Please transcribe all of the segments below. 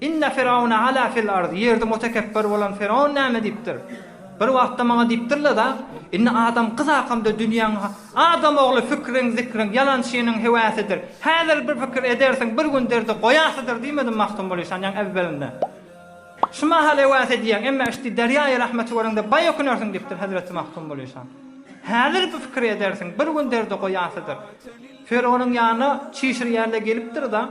Inne Firawne ala fil arz, ýerde mutekepbir bolan Firawun näme diýipdir? Bir wagtda maňa diýipdirleda, Indi adam gyz hakamda dünýäň ha Adam ogly fikriň, zikriň, ýalançynyň hewäsidir. Häzir bir pikir edersiň, bir gün derdi goýasydyr diýmedim Magtymguly Şanýaň ewwelinde. Şu mahal hewäs edýäň, emma işdi derýaýy rahmeti göreňde baý ökünersiň diýipdir hezreti Magtymguly Şan. Häzir bir pikir edersiň, bir gün derdi goýasydyr. Firawnyň ýanyna çişir ýerle gelipdir-da,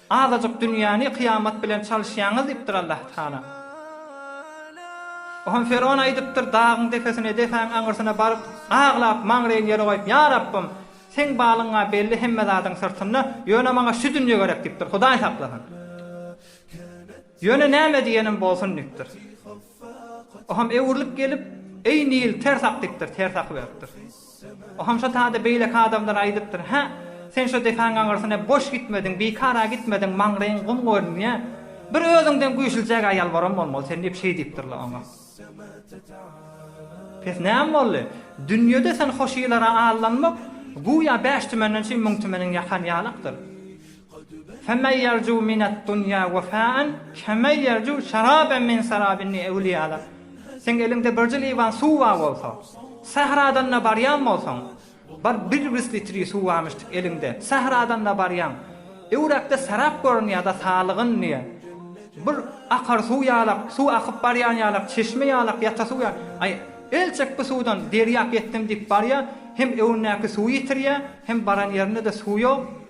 Azajyk dünýäni kyýamat bilen çalyşýaňyz diýipdir Allatagala. Ohan Fergon aýdypdyr, dagyň depesine depäň aňyrsyna baryp, aglap, maňraýyny ýere goýup, Ýa Rabbym, Seň balyňa belli hemme zadyň syrtynda, ýöne maňa şu dünýe gerek diýipdir, Hudaý saklasyn. Ýöne näme diýeniň bolsun diýipdir. Oham öwrülip gelip, Eý, Nil, ters ak diýipdir, ters aky beripdir. Oham şo taýda beýleki adamlara aýdypdyr, Hä, sen şo depäň aňyrsyna boş gitmediň, bikar-a gitmediň, maňlaýyň gum görünýä. Bir özüňden güýçlüjäk aýal baram bolmaly sen diýip şeý diýipdir-le oňa. Pes näme boldy? Dünýede sen hoşylara aldanmak, güýä bäş tümenden üçin müň tümeniň ýakan ýalakdyr. Femen ýerju mined dunýa wefaen kemen ýerju şeraben min serabinni ewliýalar. Seň eliňde birji liwan suw bar bolsa, sähradan-da barýan bolsaň, bir birwis litri suwamyşdyk eliňde, sähradan-da barýaň, öwräkde serap görünýär-de salygyn diýýär. Bir akar suw ýalak, suw akyp barýan ýalak, çeşme ýalak, ýata suw ýalak. Aý, elçek bu suwdan derýap ýetdim diýip barýar, hem öwündäki suwy ýitirýär, hem baran ýerinde-de suw ýok.